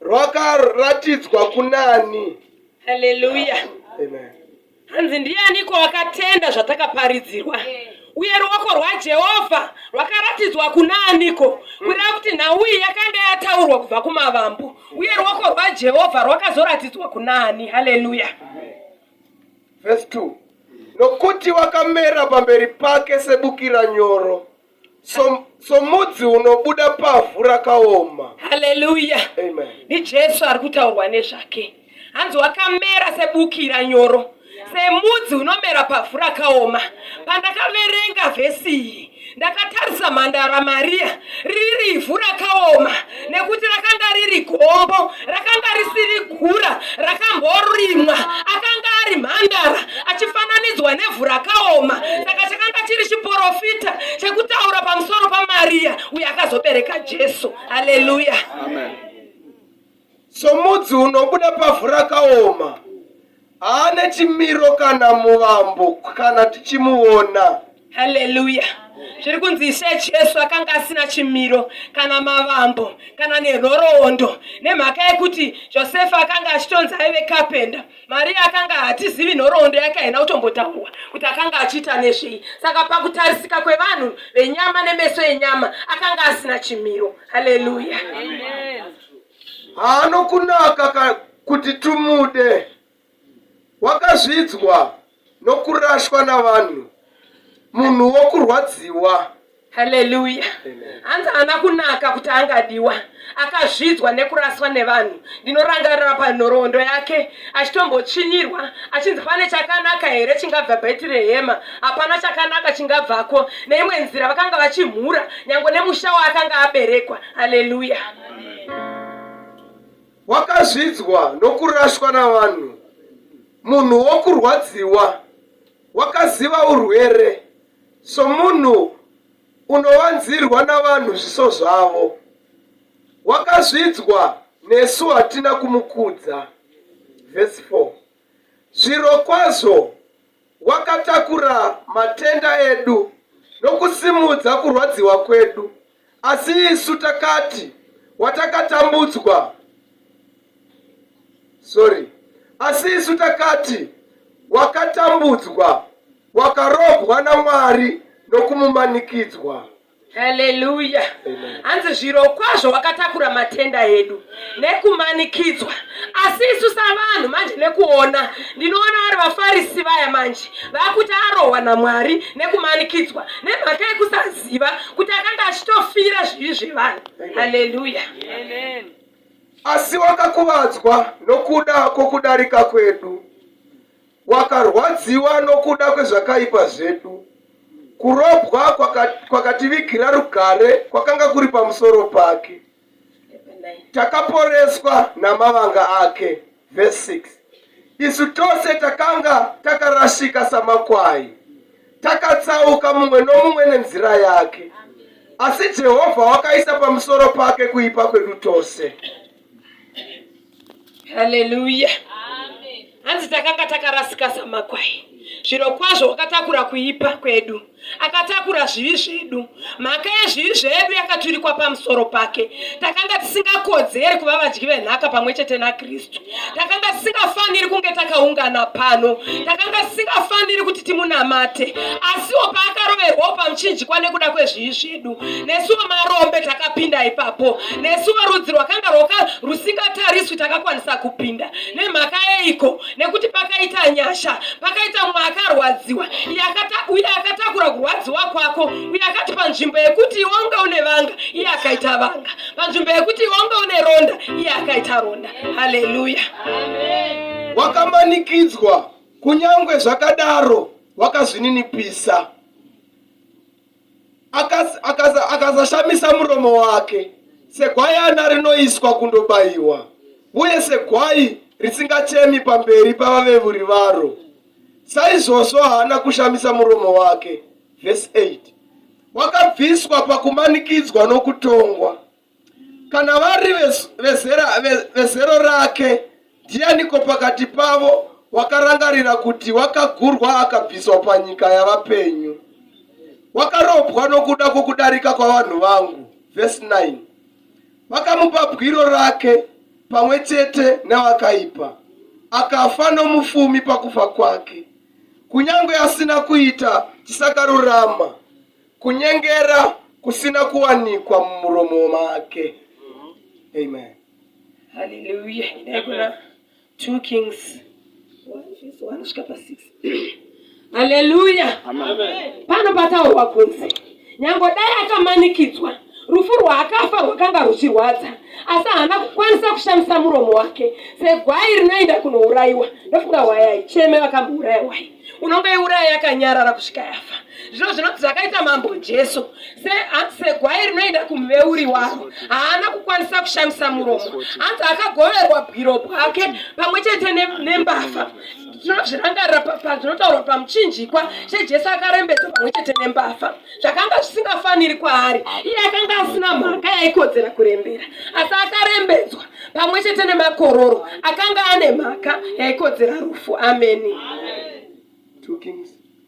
rwakaratidzwa kunani. Haleluya. Amen. Hanzi ndianiko akatenda zvatakaparidzirwa uye ruoko rwaJehovha rwakaratidzwa kuna aniko kureva kuti nhau iyi yakanga yataurwa kubva kumavambo uye ruoko rwaJehovha rwakazoratidzwa kuna ani. Haleluya. Verse 2. Nokuti wakamera pamberi pake sebukira nyoro So, somudzi unobuda pavhu rakaoma haleluya Amen. ndijesu ari kutaurwa nezvake hanzi wakamera sebukira nyoro semudzi unomera pavhu rakaoma pandakaverenga vhesi iyi ndakatarisa mhandara mariya riri ivhu rakaoma nekuti rakanga riri gombo rakanga risiri gura rakamborimwa akanga ari mhandara achifananidzwa nevhu rakaoma saka chakanga chiri chiporofita chekutaura pamusoro pamariya uyo akazobereka jesu haleluya somudzi unobuda pavhu rakaoma Haane chimiro kana muvambo kana tichimuona. Haleluya. Zviri kunzi Ishe Jesu akanga asina chimiro kana mavambo kana nenhoroondo nemhaka yekuti Josefa akanga achitonzi aive kapenda. Maria akanga hatizivi nhoroondo yake haina kutombotaurwa kuti akanga achiita nezvei. Saka pakutarisika kwevanhu venyama nemeso enyama akanga asina chimiro. Haleluya. Amen. haanokunaka kuti tumude. Wakazvidzwa nokurashwa navanhu, munhu wokurwadziwa. Haleluya. Hanzi haana kunaka kuti angadiwa, akazvidzwa nekuraswa nevanhu. Ndinorangarira panhoroondo yake achitombotsvinyirwa achinzi pane chakanaka here chingabva Bhetirehema, hapana chakanaka chingabvako. Neimwe nzira vakanga vachimhura nyange nemusha waakanga aberekwa. Haleluya. wakazvidzwa nokurashwa navanhu munhu wokurwadziwa wakaziva urwere somunhu unowanzirwa navanhu zviso zvavo wakazvidzwa nesu hatina kumukudza vhesi 4 zvirokwazvo Wakatakura matenda edu nokusimudza kurwadziwa kwedu, asi isu takati watakatambudzwa sorry asi isu takati wakatambudzwa wakarobwa namwari nokumumanikidzwa Haleluya. Hanzi zvirokwazvo wakatakura matenda edu nekumanikidzwa. Asi isu savanhu manje nekuona ndinoona vari vafarisi vaya manje vakuti arohwa naMwari nekumanikidzwa nemhaka yekusaziva kuti akanga achitofira zvivi zvevanhu. Haleluya. Asi wakakuvadzwa nokuda kwokudarika kwedu. Wakarwadziwa nokuda kwezvakaipa zvedu. Kurobwa kwakativigira rugare kwakanga kuri pamusoro pake. Takaporeswa namavanga ake. Verse 6. Isu tose takanga takarashika samakwai. Takatsauka mumwe nomumwe nenzira yake. Asi Jehovha wakaisa pamusoro pake kuipa kwedu tose. haleluya hanzi takanga takarasika samakwai zviro kwazvo wakatakura kuipa kwedu akatakura zvivi zvedu mhaka yezvivi zvedu yakaturikwa pamusoro pake takanga tisingakodzeri kuva vadyi venhaka pamwe chete nakristu takanga tisingafaniri kunge takaungana pano takanga tisingafaniri kuti timunamate asiwo paakaroverwawo pamuchinjikwa nekuda kwezvivi zvedu yedu nesuwo marombe takapinda ipapo nesuwo rudzi rwakanga rwoka rusingatariswi takakwanisa kupinda nemhaka yeiko nekuti pakaita nyasha pakaita mumwe akarwadziwa uye akatakura kurwadziwa kwako uye akati panzvimbo yekuti iwe unga une vanga iye akaita vanga panzvimbo yekuti iwe unga une ronda iye akaita ronda haleluya wakamanikidzwa kunyange zvakadaro wakazvininipisa akasashamisa aka, aka muromo wake segwayana rinoiswa kundobayiwa uye segwai risingachemi pamberi pavavevuri varo saizvozvo haana kushamisa muromo wake vhesi 8 wakabviswa pakumanikidzwa nokutongwa Kana vari vezero rake, ndianiko pakati pavo wakarangarira kuti wakagurwa akabviswa panyika yavapenyu? Wakarobwa nokuda kwokudarika kwavanhu vangu. Vhesi 9 Vakamupa bwiro rake pamwe chete nevakaipa, akafa nomufumi pakufa kwake, kunyange asina kuita chisakarurama. kunyengera kusina kuwanikwa mumuromo make amen haleluya inai kuna two kings anosvika pa six haleluya pano pataurwa kunzi nyango dai akamanikidzwa rufu rwaakafa rwakanga ruchirwadza asi haana kukwanisa kushamisa muromo wake segwai rinoenda kunourayiwa ndofunga hwai haicheme vakambouraya hwai unonge iuraya yakanyarara kusvika yafa Zvino zvinonzi zvakaita mambo Jesu segwai rinoenda kumuveuri waro, haana kukwanisa kushamisa muromo. Anzi akagoverwa bwiro bwake pamwe chete nembavha tinozvirangarira pazvinotaurwa pamuchinjikwa chejesu akarembedzwa pamwe chete nembavha zvakanga zvisingafaniri kwaari iye akanga asina mhaka yaikodzera kurembera asi akarembedzwa pamwe chete nemakororo akanga ane mhaka yaikodzera rufu ameni Two kings.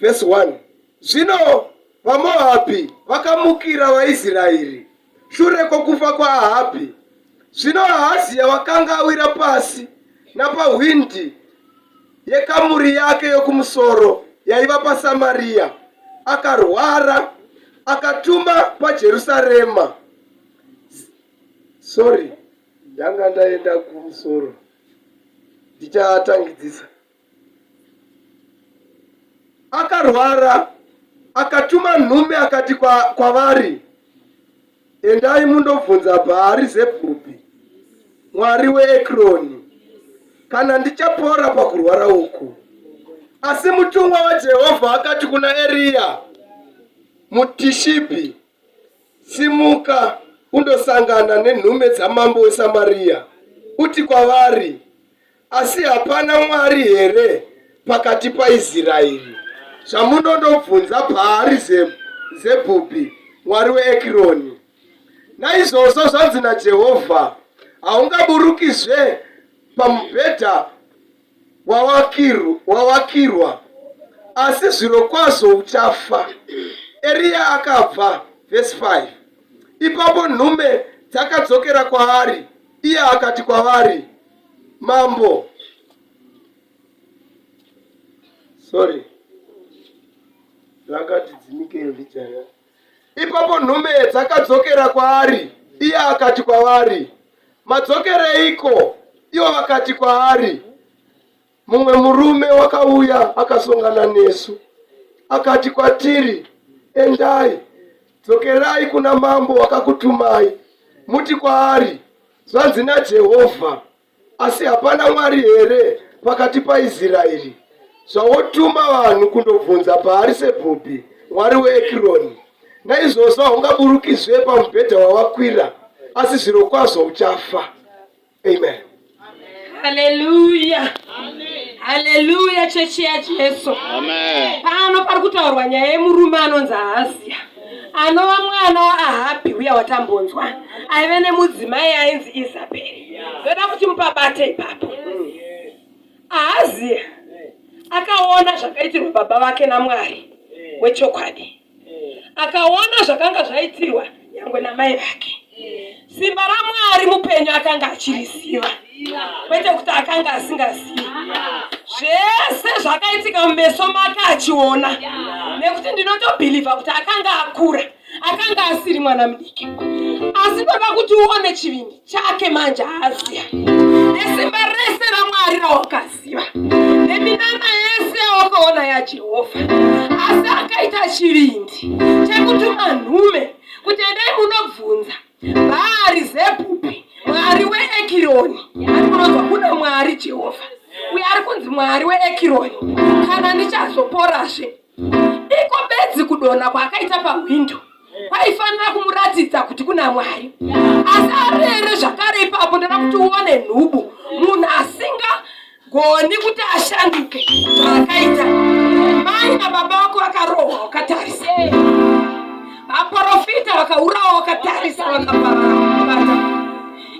Verse 1 Zvino vaMoabhi vakamukira vaIsraeri shure kwokufa kwaAhabhi. Zvino Ahazia wakanga awira pasi napahwindi yekamuri yake yokumusoro yaiva paSamaria, akarwara akatuma paJerusarema. Sorry, ndanga ndaenda kumusoro, ndichatangidzisa. akarwara akatuma nhume akati kwavari kwa endai mundobvunza bhaari zebhupi mwari weekroni kana ndichapora pakurwara uku asi mutumwa wajehovha akati kuna eriya mutishipi simuka undosangana nenhume dzamambo wesamariya uti kwavari Asi hapana Mwari here pakati paIsraeri? Zvamunondobvunza Bhaari Zebhubhi, mwari weEkironi. Naizvozvo zvanzi naJehovha, Haungaburukizve pamubhedha wawakirwa, asi zvirokwazvo uchafa. Eriya akabva. Vhesi 5 Ipapo nhume dzakadzokera kwaari, iye akati kwavari, Mambo. Sorry. Rakati dzimike ndijaya. Ipapo nhume dzakadzokera kwaari, iye akati kwavari, madzokereiko? Ivo vakati kwaari Mumwe murume wakauya akasongana nesu akati kwatiri, Endai, dzokerai kuna mambo wakakutumai, muti kwaari, Zvanzi naJehovha, asi hapana Mwari here pakati paIsraeri zvawotuma vanhu kundobvunza paari sebhubhi mwari weekironi naizvozvo haungaburukizve pamubhedha wawakwira asi zvirokwazvo uchafa Amen. Haleluya. Haleluya chechi yaJesu. Amen. Pano pari kutaurwa nyaya yemurume anonzi Ahaziya anova mwana waahabhi uya watambonzwa aive nemudzimai ainzi isabheri ndoda kuti mupabate ipapo ahaziya akaona zvakaitirwa baba vake namwari wechokwadi akaona zvakanga zvaitirwa nyangwe namai vake simba ramwari mupenyu akanga achiriziva kwete kuti akanga asingazivi zvese zvakaitika mumeso make achiona nekuti ndinotobhilivha kuti akanga akura akanga asiri mwana mudiki asi ndoda kuti uone chivindi chake manje aaziva nesimba rese ramwari rawakaziva neminana yese yawakaona yajehovha asi akaita chivindi chekutuma nhume kuti endai munobvunza bhaari zebhupi mwari weekironi ari kunonzwa kuna mwari jehovha uye ari kunzi mwari weekironi kana ndichazoporasve iko bedzi kudonha kwaakaita pahwindo kwaifanira kumuratidza kuti kuna mwari asi arere zvakare ipapo ndoda kuti uone nhubu munhu asinga goni kuti ashanduke zvaakaita mai nababa vako vakarohwa wakatarisa vaprofita vakaurawa wakatarisa vakaparabata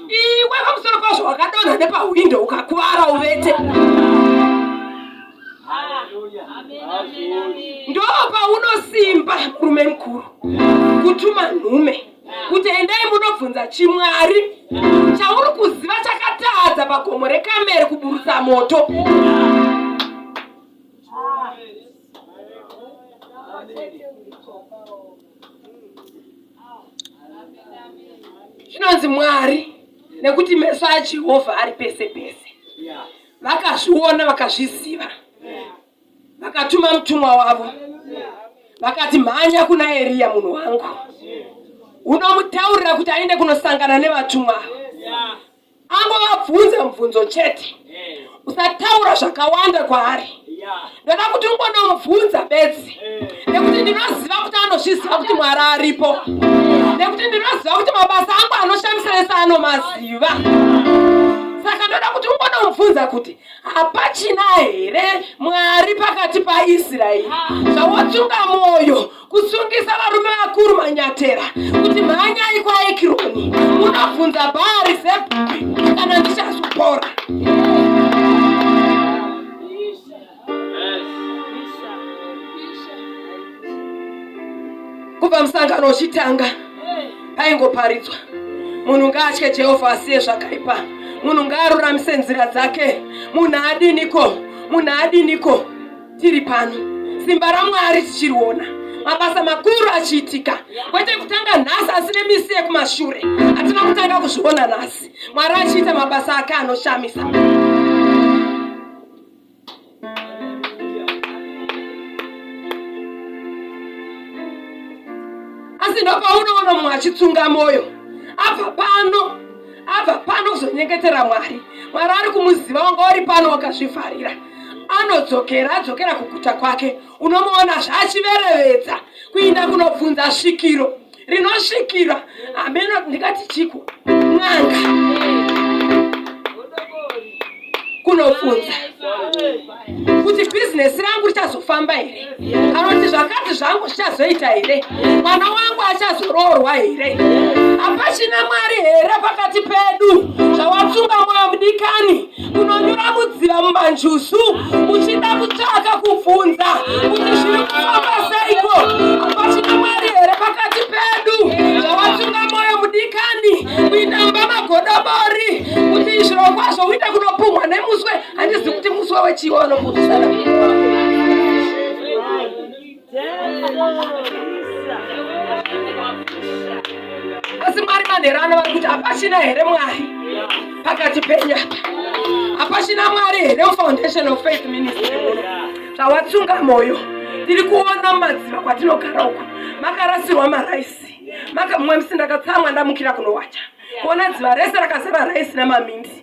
iwe pamusoro pazvo wakadonha nepahwindo ukakuvara uvete ndo paunosimba murume mukuru kutuma nhume kuti endai munobvunza chimwari chauri kuziva chakatadza pagomo rekamere kuburutsa moto zvinonzi mwari nekuti meso ajehovha ari pese pese vakazviona vakazviziva vakatuma mutumwa wavo vakati mhanya kuna eriya munhu wangu unomutaurira kuti aende kunosangana nevatumwa angovabvunza mubvunzo chete usataura zvakawanda kwaari ndoda kuti ungonomubvunza bedzi nekuti ndinoziva kuti anozviziva kuti mwari aripo nekuti ndinoziva kuti mabasa angu anoshamisa ese anomaziva saka ndoda kuti ungonomubvunza kuti hapachina here mwari pakati paisraeri zvawotsunga mwoyo kusungisa varume vakuru manyatera kuti mhanyai kwaekironi munobvunza bhaari zebhuki kana ndichazopora kubva musangano uchitanga paingoparidzwa munhu ngaatye jehovha asiye zvakaipa munhu ngaaruramise nzira dzake munhu adiniko munhu adiniko tiri pano simba ramwari tichiriona mabasa makuru achiitika kwete kutanga nhasi asi nemisi yekumashure hatina kutanga kuzviona nhasi mwari achiita mabasa ake anoshamisa asi ndopaunoona mumwe achitsunga mwoyo apa pano abva pano kuzonyengetera mwari mwari ari kumuziva wanga uri pano wakazvivharira anodzokera adzokera kuguta kwake unomuona zvachiverevedza kuinda kunobvunza svikiro rinosvikira hameno ndikati chiko n'anga kunobvunza kuti bhizinesi rangu richazofamba here kana kuti zvakati zvangu zvichazoita here mwana wangu achazoroorwa here hapachina mwari here pakati pedu zvawatsunga mwoyo mudikani kunonyura mudziva mumanjuzu muchida kutsvaka kubvunza kuti zviri kufamba seiko hapachina mwari here pakati pedu zvawatsunga mwoyo mudikani kuita mba magodobori kuti zvirokwazvo uita kunopumhwa nemuswe handizi kuti musi wawechiwo anomurisana asi mwari manherano vari kuti hapachina here mwari pakati penyu apa hapachina mwari here mufoundation of faith ministry muno zvawatsunga mwoyo tiri kuona madziva kwatinogara uku makarasirwa maraisi mumwe musi ndakatsamwa ndamukira kunowacha kuona dziva rese rakazara raisi namamindi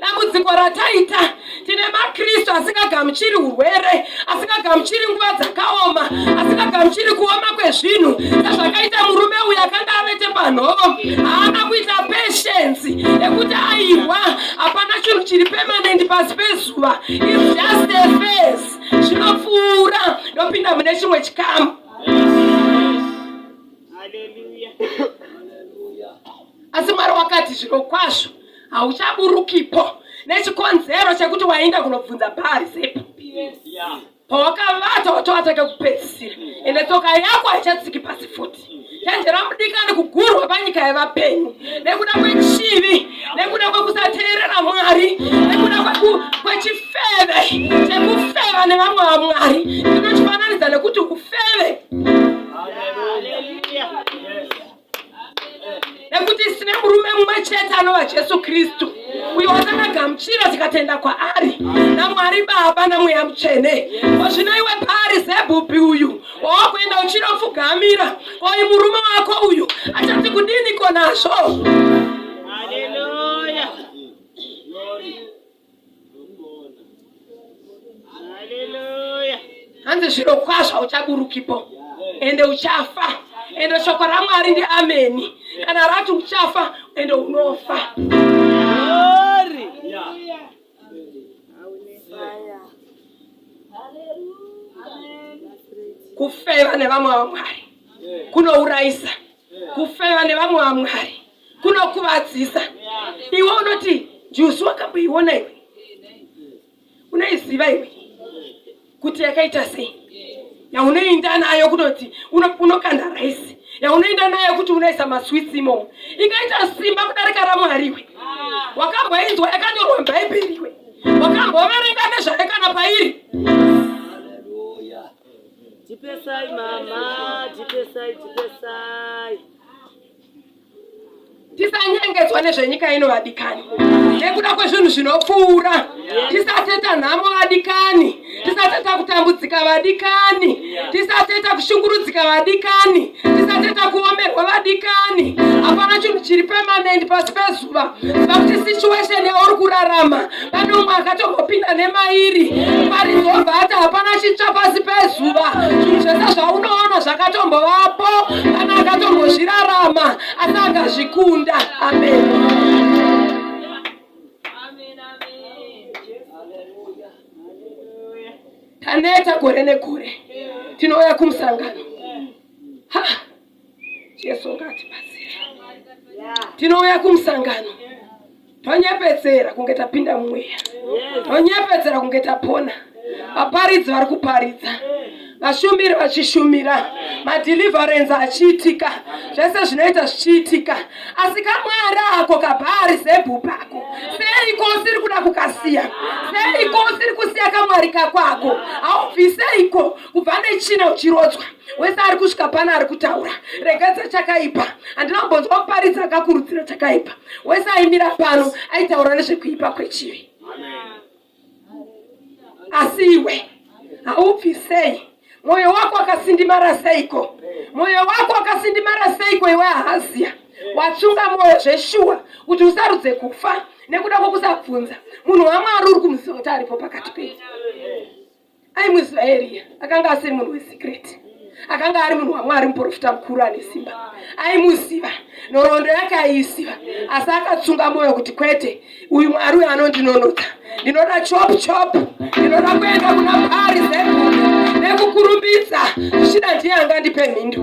dambudziko rataita tine makristu asingagamuchiri urwere asingagamuchiri nguva dzakaoma asingagamuchiri kuoma kwezvinhu sezvakaita murume uyo akanga avete panhovo haana kuita peshensi yekuti aihwa hapana chinhu chiri pemanenti pasi pezuva isjustefes zvinopfuura ndopinda mune chimwe chikamu asi mwari wakati zviro kwazvo hauchaburukipo nechikonzero chekuti waenda kunobvunza bhari zepo pawakavata watovatake kupedzisira ende tsoka yako haichatsiki pasi futi chenjera mudikani kugurwa panyika yevapenyu nekuda kwechivi nekuda kwekusateerera mwari nekuda kwechifeve chekufeva nevamwe vamwari ndinochifananidza nekuti ufeve nekuti sine murume mumwe chete anova jesu kristu uyo watakagamuchira tikatenda kwaari namwari baba namweya mutsvene kozvino iwe paari zebhupi uyu wawakuenda uchinopfugamira oyi murume wako uyu achati kudiniko nazvo hanzi zviro kwazvo uchaburukipo ende uchafa ende shoko ramwari ndi ameni kana rati uchafa ende unofa kufeva nevamwe vamwari kunourayisa Kufeva nevamwe vamwari kunokuvadzisa. Iwe unoti njuzu wakamboiona iwe, unaiziva iwe kuti yakaita sei? Yaunoinda nayo kunoti unokanda raisi, yaunoinda nayo kuti unoisa maswitsi imomo, ingaita simba kudarika ramwari iwe. Wakamboinzwa yakanyorwa mubhaibheri iwe, wakamboverenga nezvayo kana pairi tipesai mama tipesai tipesai tisanyengedzwa nezvenyika ino vadikani nekuda kwezvinhu zvinopfuura tisateta nhamo vadikani tisateta kutambudzika vadikani tisateta kushungurudzika vadikani tisateta kuomerwa vadikani hapana chinhu chiri pemanendi pasi pezu Jehovha vakuti situation yauri kurarama pane umwe akatombopinda nemairi parizobva ati hapana chitsva pasi pezuva zvinhu zvese zvaunoona zvakatombovapo kana akatombozvirarama asi akazvikunda amen taneta gore negore tinouya kumusangano ha Jesu ngatibatsire. Tinouya kumusangano tonyepedzera kunge tapinda mumweya, tonyepedzera kunge tapona. Vaparidzi vari kuparidza, vashumiri vachishumira, madhilivharenzi achiitika, zvese zvinoita zvichiitika. Asi kamwari ako kabhaari zebhu pako, seiko usiri kuda kukasiya? Seiko usiri kusiya kamwari kakwako? Haubviseiko kubva nechina uchirodzwa wese ari kusvika pano ari kutaura regedza chakaipa handina kumbonzwa muparidzi akakurudzira chakaipa wese aimira pano aitaura nezvekuipa kwechivi asi iwe haubvi sei mwoyo wako akasindimara seiko mwoyo wako akasindimara seiko iwe ahaziya watsunga mwoyo zveshuwa kuti usarudze kufa nekuda kwokusabvunza munhu wamwari uri kumuziva kuti aripo pakati penyu Ai muIsraeri akanga asiri munhu wesikireti akanga ari munhu wamwari muprofita mukuru ane simba aimuziva nhoroondo yake aiisiva asi akatsunga mwoyo kuti kwete uyu mwari uyo anondinonotsa ndinoda chop chop ndinoda kuenda kuna pari zebuni nekukurumbidza zvichida ndiye angandipe mhindu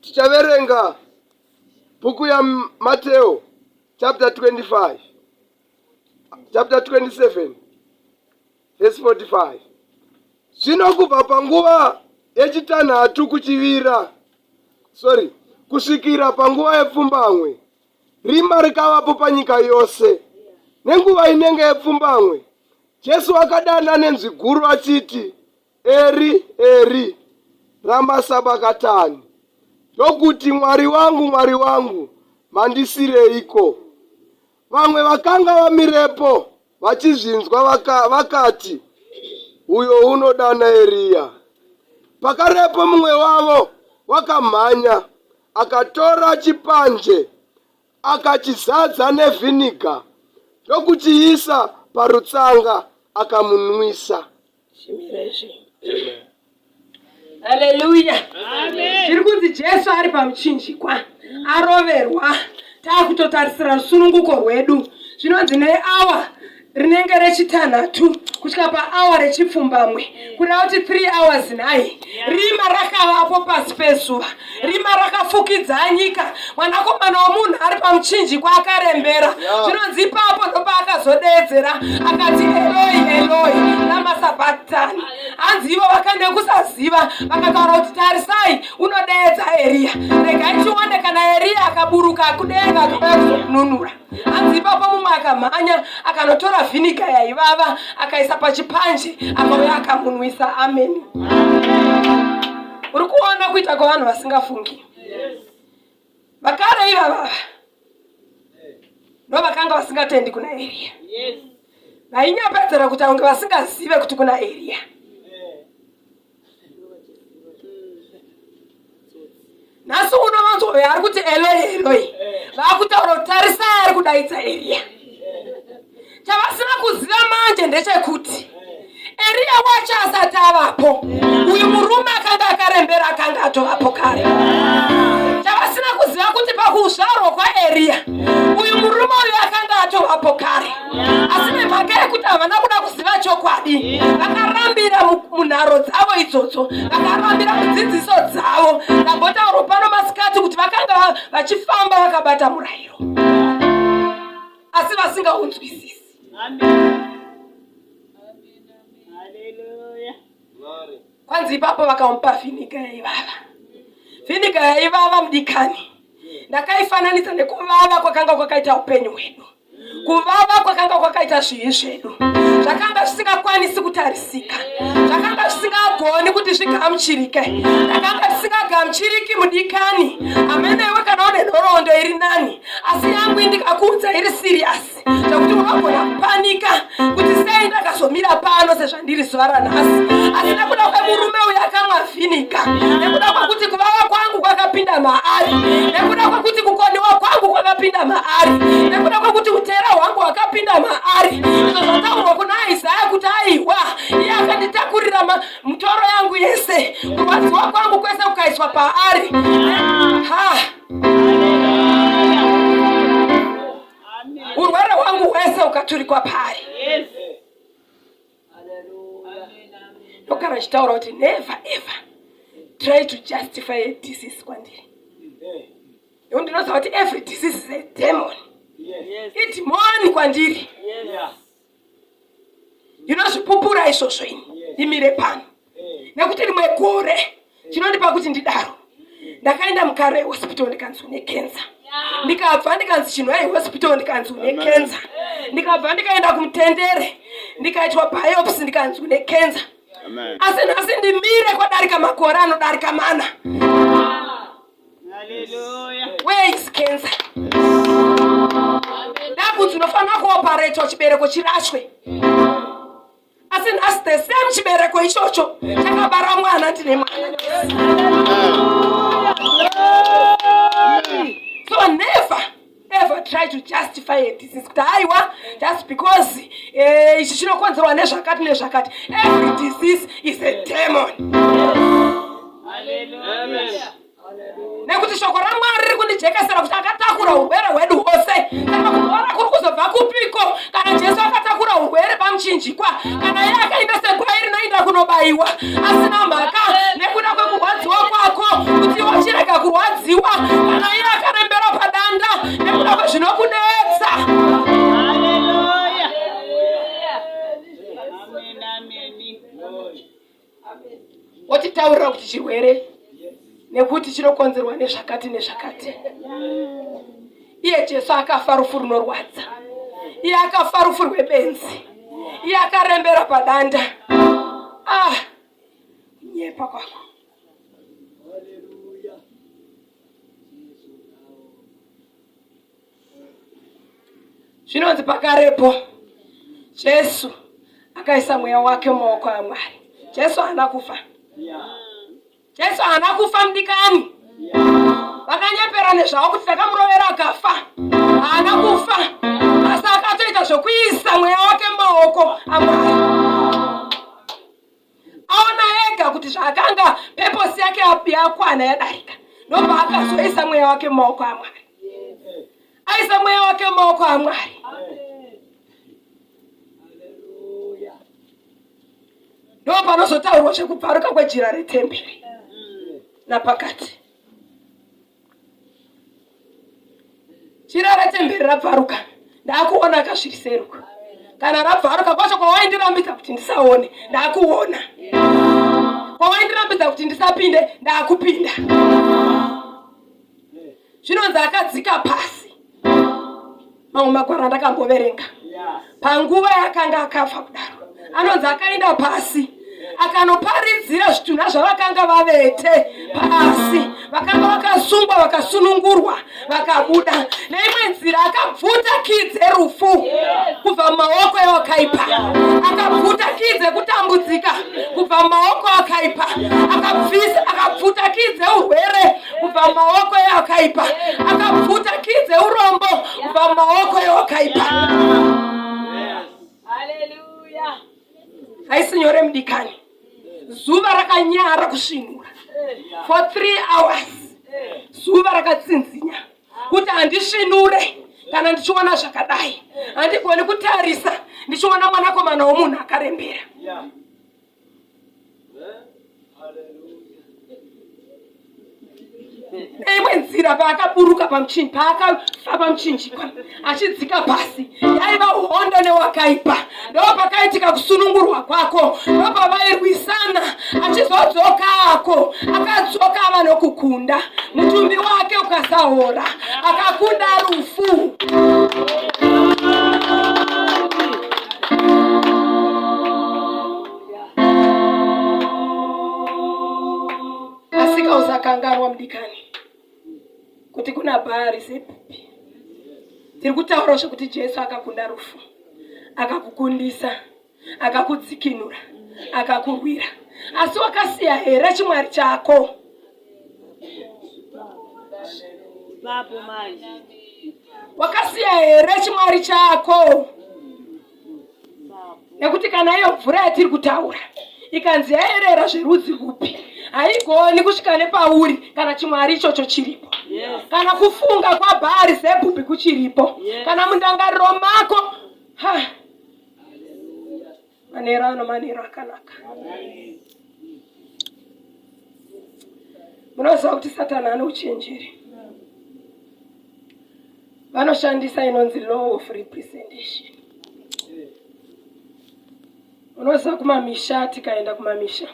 tichaverenga bhuku yamateo chapter 25 chapter 27 verse 45 zvino kubva panguva yechitanhatu kuchivira sorry kusvikira panguva yepfumbamwe rima rikavapo panyika yose nenguva inenge yepfumbamwe jesu akadana nenzwi guru achiti Eri, Eri, rama sabakatani, ndokuti, Mwari wangu, Mwari wangu, mandisireiko? Vamwe vakanga vamirepo vachizvinzwa vaka, vakati, Uyo unodana Eriya. Pakarepo mumwe wavo wakamhanya akatora chipanje akachizadza nevhiniga ndokuchiisa parutsanga akamunwisa. Haleluya. Zviri kunzi Jesu ari pamuchinjikwa aroverwa taakutotarisira rusununguko rwedu zvinonzi neawa rinenge rechitanhatu kusvika paawa rechipfumbamwe kureva kuti 3 hours nhai rima rakavapo pasi pezuva rima rakafukidza nyika mwanakomana womunhu ari pamuchinjikwa akarembera zvinonzi ipapo ndopaakazodeedzera akati eloi eloi ramasabatani hanzi ivo vakane kusaziva vakataura kuti tarisai unodeedza eriya regai tione kana eriya akaburuka kudenga akauya kuzokununura hanzi ipapo mumwe akamhanya akanotora vhinika yaivava akaisa pachipanje akauya akamunwisa ameni uri kuona kuita kwavanhu vasingafungi vakare ivavava ndo vakanga vasingatendi kuna eriya vainyapedzera kuti aunge vasingazive kuti kuna eriya nhasi uno vanzove ari kuti eloi eloi vakutaura kuti tarisai ari kudaidza eriya chavasina kuziva manje ndechekuti eriya wacho asati avapo uyu murume akanga akarembera akanga atovapo kare chavasina kuziva kuti pakuzvarwa kwaeriya uyu murume uyu akanga atovapo kare asi nemhaka yekuti havana kuda kuziva chokwadi vakarambira munharo dzavo idzodzo vakarambira mudzidziso dzavo ndambotauro pano masikati kuti vakanga vachifamba vakabata murayiro asi vasingaunzwisisi kwanzi ipapo vakamupa vhiniga yaivava vhiniga yaivava mudikani ndakaifananidza nekuvava kwakanga kwakaita upenyu hwedu kuvava kwakanga kwakaita zvivi zvedu zvakanga zvisingakwanisi kutarisika zvakanga zvisingagoni kuti zvigamuchirike takanga tisingagamuchiriki mudikani amene iwe kana une nhoroondo iri nani asi yangu indikakuudza iri siriyasi zvekuti unogona kupanika kuti sei ndakazomira pano sezva ndiri zuva ranhasi asi nekuda kwemurume uyo akamwa vhinika nekuda kwekuti kuvava kwangu kwakapinda maari nekuda kwekuti kukoniwa kwangu kwakapinda maari nekuda kwekuti utera hwangu hwakapinda maari izvo zvataurwa kuna isaya kuti aihwa iye akanditakurira mutoro yangu yese kurwadziwa kwangu kwese kukaiswa paari ha urwere hwangu hwese ukaturikwa paari yes. ndogara achitaura kuti never ever try to justify a disease kwandiri nekuti ndinoziva kuti every disease is a demon idhimoni kwandiri inozvipupura izvozvo ini imire pano nekuti rimwe gore chinondipa kuti ndidaro ndakaenda mukare hospital ndikanzi une kenza ndikabva ndikanzi chinhu ai hospital ndikanzi une kenza ndikabva ndikaenda kumutendere ndikaitwa biopsy ndikanzi une kenza asi nhasi ndimire kwadarika makore anodarika mana where is kenza ndakunzi unofanira kuoparetwa chibereko chirashwe asi nhasi the same chibereko ichocho chakabara mwana tine mwana so never ever try to justify a disease kuti haiwa just because eh, ichi chinokonzerwa nezvakati nezvakati every disease is a demon Hallelujah. nekuti shoko ramwari riri kundijekesera kuti akatakura urwere hwedu hwose kana kuora kuri kuzobva kupiko kana jesu akatakura urwere pamuchinjikwa kana iye akaita segwai rinoinda kunobaiwa asina mhaka nekuda kwekurwadziwa kwako kuti wachirega kurwadziwa kana iye akarembera padanda nekuda kwezvinokunetsa wotitaurira kuti chirwere nekuti chinokonzerwa nezvakati nezvakati iye jesu akafa rufu runorwadza iye akafa rufu rwebenzi iye akarembera padanda ah kunyepa kwako Zvinonzi pakarepo Jesu akaisa mweya wake mumaoko aMwari. Jesu haana kufa. Jesu haana kufa mudikani. Vakanyepera nezvavo kuti takamurovera akafa. Haana kufa. Asi akatoita zvekuisa mweya wake mumaoko aMwari. aona ega kuti zvaakanga peposi yake yakwana yadarika ndobva akazoisa mweya wake mumaoko amwari aisa mweya wake mumaoko amwari ndo panozotaurwa zvekubvaruka kwejira retemberi napakati Chira retemberi rabvaruka ndakuona akasviriseruka kana rabvaruka kwacho kwawaindirambidza kuti ndisaone ndakuona kwawaindirambidza kuti ndisapinde ndakupinda zvinonzi akadzika pasi mamwe magwaro andakamboverenga panguva yaakanga akafa kudaro anonzi akaenda pasi akanoparidzira zvitunha zvavakanga vavete pasi vakanga vakasungwa vakasunungurwa vakabuda neimwe nzira akabvuta kii dzerufu kubva mumaoko eakaipa akabvuta kii dzekutambudzika kubva mumaoko akaipa akabvisa akabvuta kii dzeurwere kubva mumaoko ewakaipa akabvuta kii dzeurombo kubva mumaoko ewakaipa haisi nyore mudikani zuva rakanyara kusvinura for three hours zuva rakatsinzinya kuti handisvinure kana ndichiona zvakadai handigoni kutarisa ndichiona mwanakomana womunhu akarembera yeah. neimwe nzira paakaburuka pamuchinji paakafa pamuchinji achidzika pasi yaiva hondo newakaipa ndopakaitika kusunungurwa kwako ndopavairwisana achizodzoka ako akadzoka ava nokukunda mutumbi wake ukasaora akakunda rufu asika usakanganwa mudikani kuti kuna bhaari sepupi tiri kutaura zvekuti jesu akakunda rufu akakukundisa akakudzikinura akakurwira asi wakasiya here chimwari chako wakasiya here chimwari chako nekuti kana iyo mvura yatiri kutaura ikanzi yaerera zverudzi rupi haigoni kusvika nepauri kana chimwari ichocho chiripo kana kufunga kwabhaari zebhubhi kuchiripo kana mundangariro mako ha manero ano manero akanaka munoziva kuti satani ane uchenjeri vanoshandisa inonzi law of representation unoziva kumamisha tikaenda kumamisha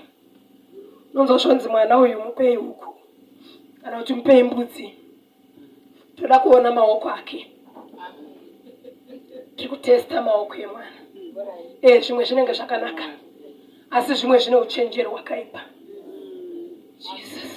unonzwa zvonzi mwana uyu mupei huku kana kuti mupei mbudzi toda kuona maoko ake tiri kutesta maoko emwana e zvimwe zvinenge zvakanaka asi zvimwe zvine uchenjeri hwakaipa jesus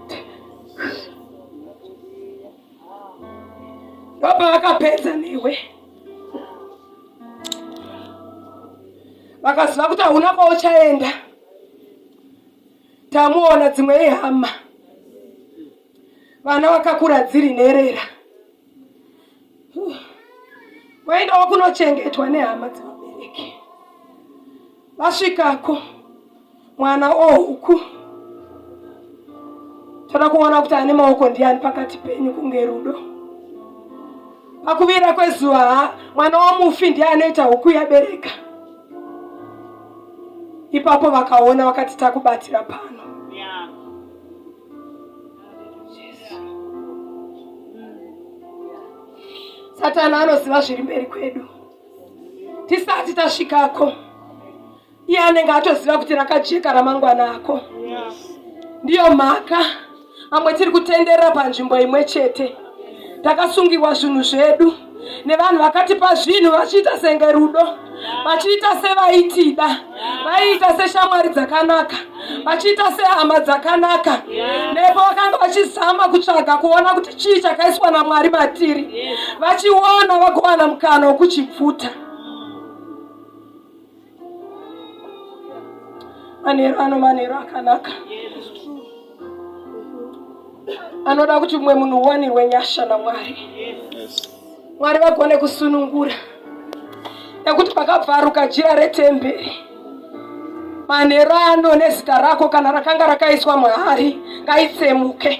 Baba vakapedza newe, vakaziva kuti hauna kwauchaenda. Tamuona dzimwe ihama, vana vakakura dziri nherera. Waendawo kunochengetwa nehama dzevabereki. Vasvikako mwana ohuku oh, toda kuona kuti ane maoko ndiani pakati penyu kunge rudo pakuvira kwezuva ha mwana wamufi ndiye anoita huku yabereka ipapo vakaona vakati takubatira pano satani anoziva zviri mberi kwedu tisati tasvikako iye anenge atoziva kuti rakajeka ramangwana ako ndiyo mhaka amwe tiri kutenderera panzvimbo imwe chete takasungirwa zvinhu zvedu nevanhu vakatipa zvinhu vachiita senge rudo vachiita sevaitida vaiita seshamwari dzakanaka vachiita sehama dzakanaka nepo vakanga vachizama kutsvaga kuona kuti chii chakaiswa namwari matiri vachiona vagowana mukana wokuchipfuta manheru ano manheru akanaka anoda kuti mumwe munhu uwanirwe nyasha namwari mwari vagone kusunungura nekuti pakabvaruka jira retemberi manheru ano nezita rako kana rakanga rakaiswa mahari ngaitsemuke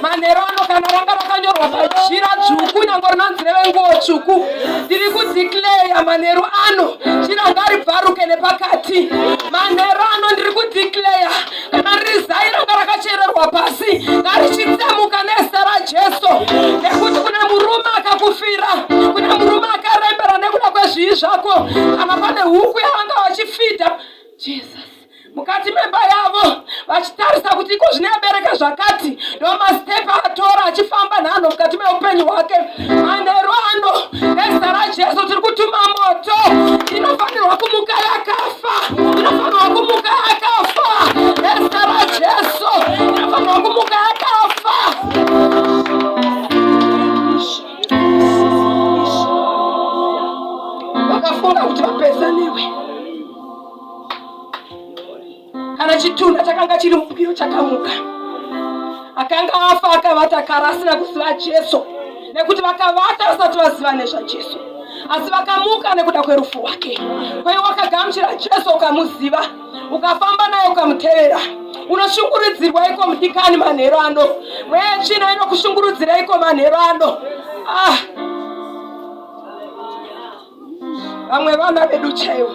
manheru ano kana ranga rakanyorwa pajira dzvuku nyango rinonzi revenguo tsvuku ndiri kudikleya manheru ano jira ngaribvaruke nepakati manheru ano ndiri kudikleya kana riri zai ranga rakachererwa pasi ngarichitsemuka nezita rajesu nekuti kune murume akakufira kune murume akarembera nekuda kwezvii zvako kana pane huku yavanga vachifidha jesus mukati memba yavo vachitarisa kuti iko zvine abereka zvakati ndomastepi atora achifamba nhanho mukati meupenyu hwake manheru ano nezita rajesu tiri kutuma moto inofanirwa kumuka yakafa inofanirwa kumuka yakafa nezita rajesu inofanirwa kumuka yakafa vakafunga kuti vapezaniwe Kana chitunha chakanga chiri mupiro chakamuka, akanga afa akavata kara asina kuziva Jesu, nekuti vakavata vasati vaziva nezvaJesu, asi vakamuka nekuda kwerufu rwake. Kwai wakagamuchira Jesu ukamuziva, ukafamba naye ukamutevera unoshungurudzirwa iko mudikani manhero ano mweya china inokushungurudzira iko manhero ano ah. vamwe vana vedu chaivo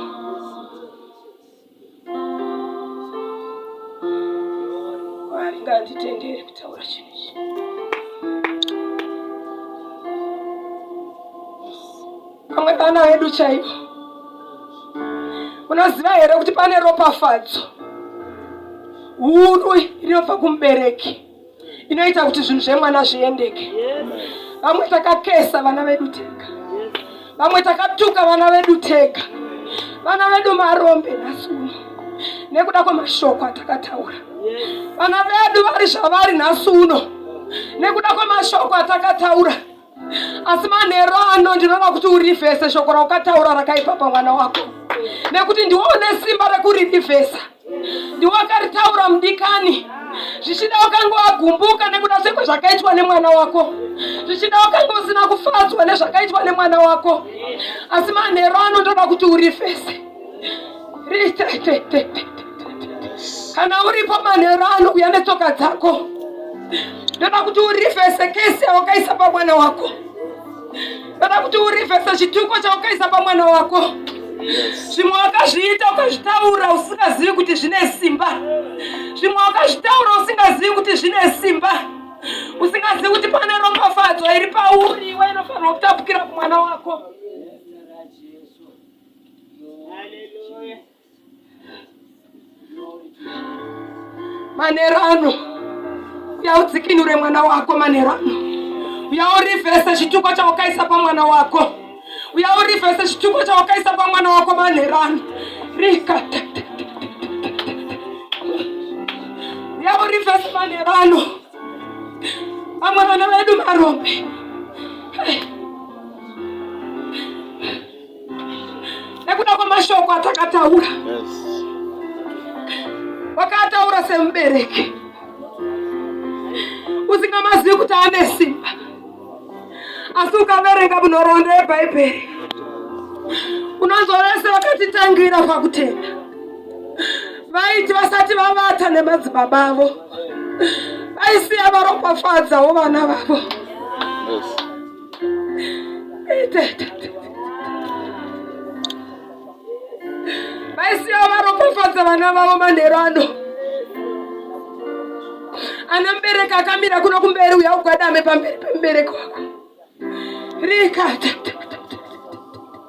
mwari nganditendere kutaura chinhu ichi vamwe vana vedu chaivo unoziva here kuti pane ropafadzo huru rinobva kumubereki inoita kuti zvinhu zvemwana zviendeke vamwe takakesa vana vedu tega vamwe takatuka vana vedu tega vana vedu marombe nhasi uno nekuda kwemashoko atakataura vana vedu vari zvavari nhasi uno nekuda kwemashoko atakataura asi manheru ano ndinoda kuti urivhese shoko raukataura rakaipa pamwana wako nekuti ndiwo une simba rekuririvhesa ndiwo akaritaura mudikani zvichida ukange wagumbuka nekuda zveko zvakaitwa nemwana wako zvichida ukange usina kufadzwa nezvakaitwa nemwana wako asi manheru ano ndoda kuti urivhese kana uripo manhero ano kuya netsoka dzako ndoda kuti urivhese kese wakaisa pamwana wako ndoda kuti urivhese chituko chawakaisa pamwana wako zvimwe wakazviita ukazvitaura usingazivi kuti zvine simba zvimwe wakazvitaura usingazivi kuti zvine simba usingazivi kuti pane ropafadzo iri pauri iwe inofanirwa kutapukira kumwana wako manero ano uya udzikinure mwana wako manero ano uya urivhese chituko chawakaisa pamwana wako uya urivhese chituko chawakaisa pamwana wako manero ano rika uya urivhese manero ano vamwe vana vedu marombe hey. nekuda kwemashoko atakataura wakataura semubereki usingamazivi kuti ane simba asi ukaverenga munhoroondo yebhaibheri unozorese vakatitangira pakutenda vaiti vasati vavata nemadzibaba avo vaisiya varopafadzawo vana vavo yes. vaisiva varopofadza vana vavo manhero ano ana mubereki akamira kuno kumberi uya ugwadame pamberi pemubereki wako rikata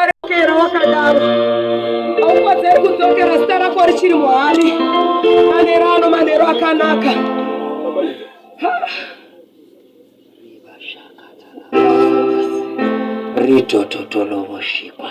arekera wakadaro aukwadzeri kudzokera zita rako richiri muhari manero ano manero akanaka ritototolovoshikwa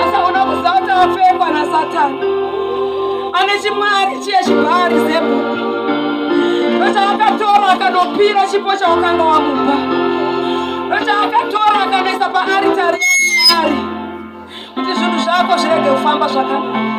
asaona kuzata apfekwa nasatani ane chimwari chiye chibhari zebhuku ndochaakatora akanopira chipo chawakanga wamupa ndochaakatora akanoisa paaritari yaari kuti zvinhu zvako zvirege kufamba zvakanaka